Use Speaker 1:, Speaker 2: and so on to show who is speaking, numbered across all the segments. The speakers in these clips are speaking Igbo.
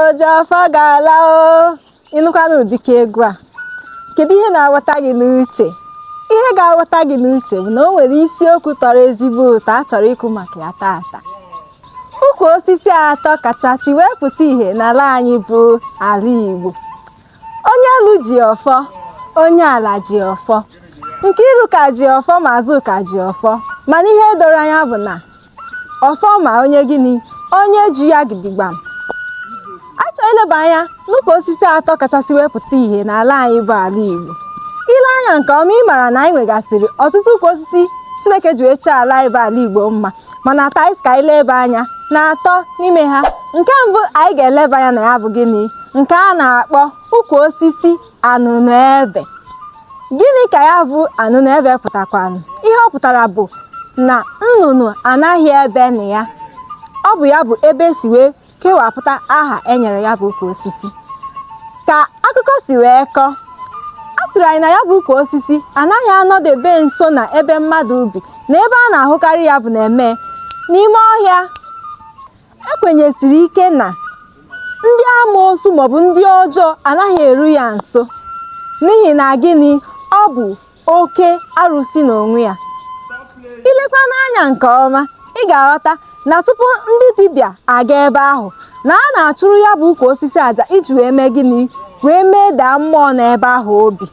Speaker 1: oji ọfọ ga-ala o ịnụkwana ụdịka egwu a kedu ihe na-agbata gị n'uche ihe ga-agbata gị n'uche bụ na o nwere isiokwu tọrọ ezigbo ụtọ a chọrọ ikwu maka ya taata ukwu osisi atọ kachasị wee pụta ìhè n'ala anyị bụ ala Igbo onye elu ji ọfọ onye ala ji ọfọ Nkiruka ji ọfọ ma Azụka ji ọfọ mana ihe doro anya bụ na ọfọ ma onye gịnị onye ji ya gidigbam a chọrọ ileba anya n'ukwu osisi atọ kachasị wee pụta ìhè n'ala anyị bụ ala Igbo i lee anya nke ọma ị mara na anyị nwegasịrị ọtụtụ ukwu osisi Chineke ji wee chọọ ala anyị bụ ala Igbo mma mana taa anyị ka anyị leba anya na atọ n'ime ha nke mbụ anyị ga-eleba anya na ya bụ gịnị nke a na-akpọ ukwu osisi anụnụebe gịnị ka ya bụ anụnụebe pụtakwanụ ihe ọ pụtara bụ na nnụnụ anaghị ebe na ya ọ bụ ya bụ ebe e si wee kewapụta aha e nyere ya bụ ukwu osisi ka akụkọ si wee kọọ a sịrị anyị na ya bụ ukwu osisi anaghị anọdebe nso na ebe mmadụ bi na ebe a na-ahụkarị ya bụ n'ime n'ime ọhịa e kwenyesiri ike na ndị amoosu maọbụ ndị ọjọọ anaghị eru ya nso n'ihi na gịnị ọ bụ oke arụsị n'onwe ya i lekwanụ anya nke ọma ị ga-aghọta na tupu ndị dibịa aga ebe ahụ na a na-achụrụ ya bụ ukwu osisi aja iji wee mee gịnị wee medaa mmụọ nọ ebe ahụ obi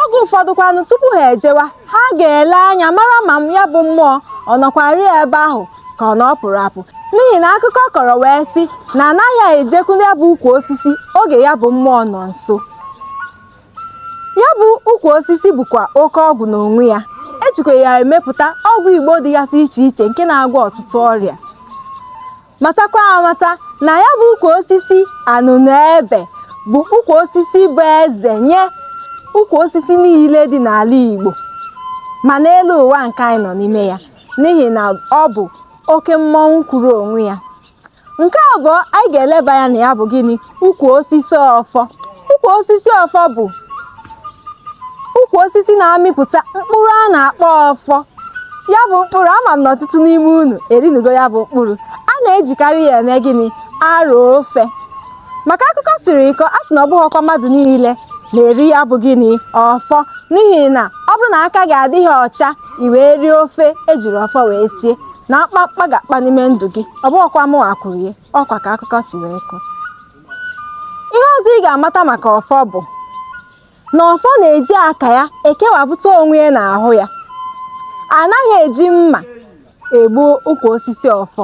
Speaker 1: oge ụfọdụkwanụ tupu ha ejewa ha ga-ele anya mara ma ya bụ mmụọ ọ nọkwarị ebe ahụ ka ọ na ọ pụrụ apụ n'ihi na akụkọ kọrọ wee sị na a naghị ejekwu ya bụ ukwu osisi oge ya bụ mmụọ nọ nso ya bụ ukwu osisi bụkwa oke ọgwụ n'onwe ya e jikwa ya emepụta ọgwụ igbo dịgasị iche iche nke na-agwọ ọtụtụ ọrịa matakwa amata na ya bụ ukwu osisi anụnụ ebe bụ ukwu osisi bụ eze nye ukwu osisi niile dị n'ala igbo ma n'elu ụwa nke anyị nọ n'ime ya n'ihi na ọ bụ oke mmọnwụ kwuru onwe ya nke abụọ anyị ga-eleba anya na ya bụ gịnị ukwu osisi ọfọ ukwu osisi ọfọ bụ ukwu osisi na-amịpụta mkpụrụ a na-akpọ ọfọ ya bụ mkpụrụ ama m na ọtụtụ n'ime unu erinugo ya bụ mkpụrụ a na-ejikarị ya eme gịnị arọ ofe ma ka akụkọ siri kọọ a sị na ọ bụghịkwa mmadụ niile na-eri ya bụ gịnị ọfọ n'ihi na ọ bụrụ na aka gị adịghị ọcha i wee rie ofe ejiri ọfọ wee sie na mkpamkpa ga-akpa n'ime ndụ gị ọ bụghịkwa mụwa kwuru ya ọ kwa ka akụkọ si wee kọọ ihe ọzọ ị ga-amata maka ọfọ bụ na ọfọ na-eji aka ya ekewapụta onwe ya n'ahụ ya a naghị eji mma egbu ukwu osisi ọfọ